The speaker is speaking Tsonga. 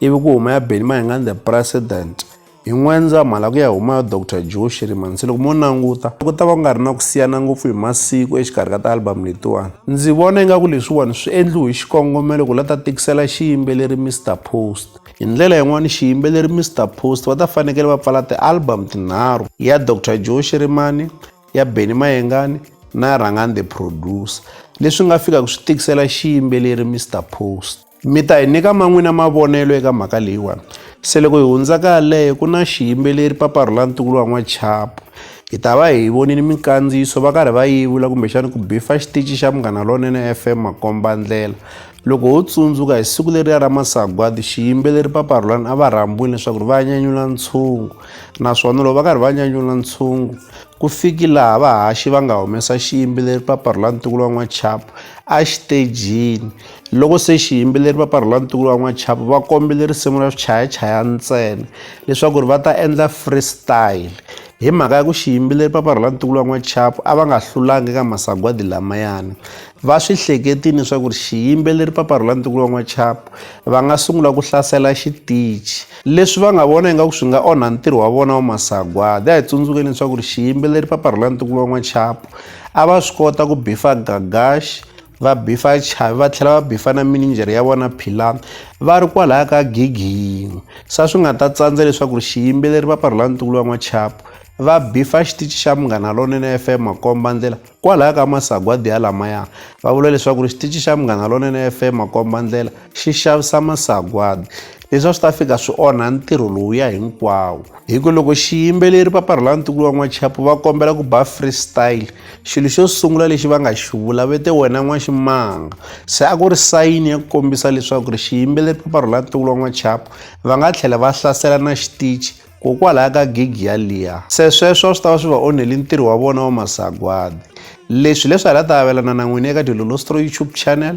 ivi ku huma ya Benny Mayengani the President hi N'wendzamhala ku ya huma ya Dr Joe Shirimansi loko mo languta ku ta va ku nga ri na ku siyana ngopfu hi masiku exikarhi ka tialbamu letiwani ndzi vona ingaku leswiwani swi endliwe hi xikongomelo ku la ta tikisela xiyimbeleri Mr Post hi ndlela yin'wana xiyimbeleri Mr Post va ta fanekele va pfala tialbamu tinharhu ya Dr Joe Shirimani ya Benny Mayengani na ya Rhangani the Producer leswi nga fikaka swi tikisela xiyimbeleri Mr Post Mi ta hi nyika ma n'wina mavonelo eka mhaka leyiwani. Se loko hi hundza ka yaleyo ku na xiyimbeleri Papa Rhula Ntukulu wa N'wachapu. Hi ta va hi vonile minkandziyiso va karhi va yevula kumbexana ku bifa xitichi xa Munghana Lonene F_M makombandlela. Loko ho tsundzuka hi siku leriya ra masagwadi xiyimbeleri Papa Rhulani a va rhambiwile leswaku ri va nyanyula ntshungu naswona loko va karhi va nyanyula ntshungu ku fiki laha vahaxi va nga humesa xiyimbeleri Papa Rhulani Ntukulu wa N'wachapu a xitejini Loko se xiyimbeleri va parhula ntukulu wa n'wachapu va kombile risimu ra swichayachaya ntsena leswaku ri va ta endla freestyle hi mhaka ya ku xiyimbeleri va parhula ntukulu wa n'wachapu a va nga hlulanga eka masagwadi lamayani va swi hleketini leswaku ri xiyimbeleri va parhula ntukulu wa n'wachapu va nga sungula ku hlasela xitichi leswi va nga vona ingaku swi nga onha ntirho wa vona wa masagwadi a hi tsundzukeni leswaku ri xiyimbeleri va parhula ntukulu wa n'wachapu a va swi kota ku bifa gagaxi va bifa chavi va tlhela va bifa na mininjhere ya vona philani va ri kwalaya ka gigi yin'we sa swi nga ta tsandza leswaku ri xiyimbeleri va parhula ntukulu wa n'wachapo va bifa xitichi xa munghana lonene f m makomba ndlela kwalaya ka masagwadi ya lamaya va vula leswaku ri xitichi xa munghana lonene f m makomba ndlela xi xavisa masagwadi leswi a swi ta fika swi onha ntirho lowuya hinkwawo hi ku loko xiyimbeleri paparhula ntukulu wa n'wachapo va kombela ku ba freestyle xilo xo sungula lexi va nga xi vula ve te wena n'waximanga se a ku ri sayini ya ku kombisa leswaku ri xiyimbeleri paparhula ntukulu wa n'wachapo va nga tlhela va hlasela na xitichi kokwalaho ka gigi yaliya se sweswo a swi ta va swi va onheli ntirho wa vona wa masagwadi leswi leswi hala ta avelana na n'wini eka dilolostro youtube channel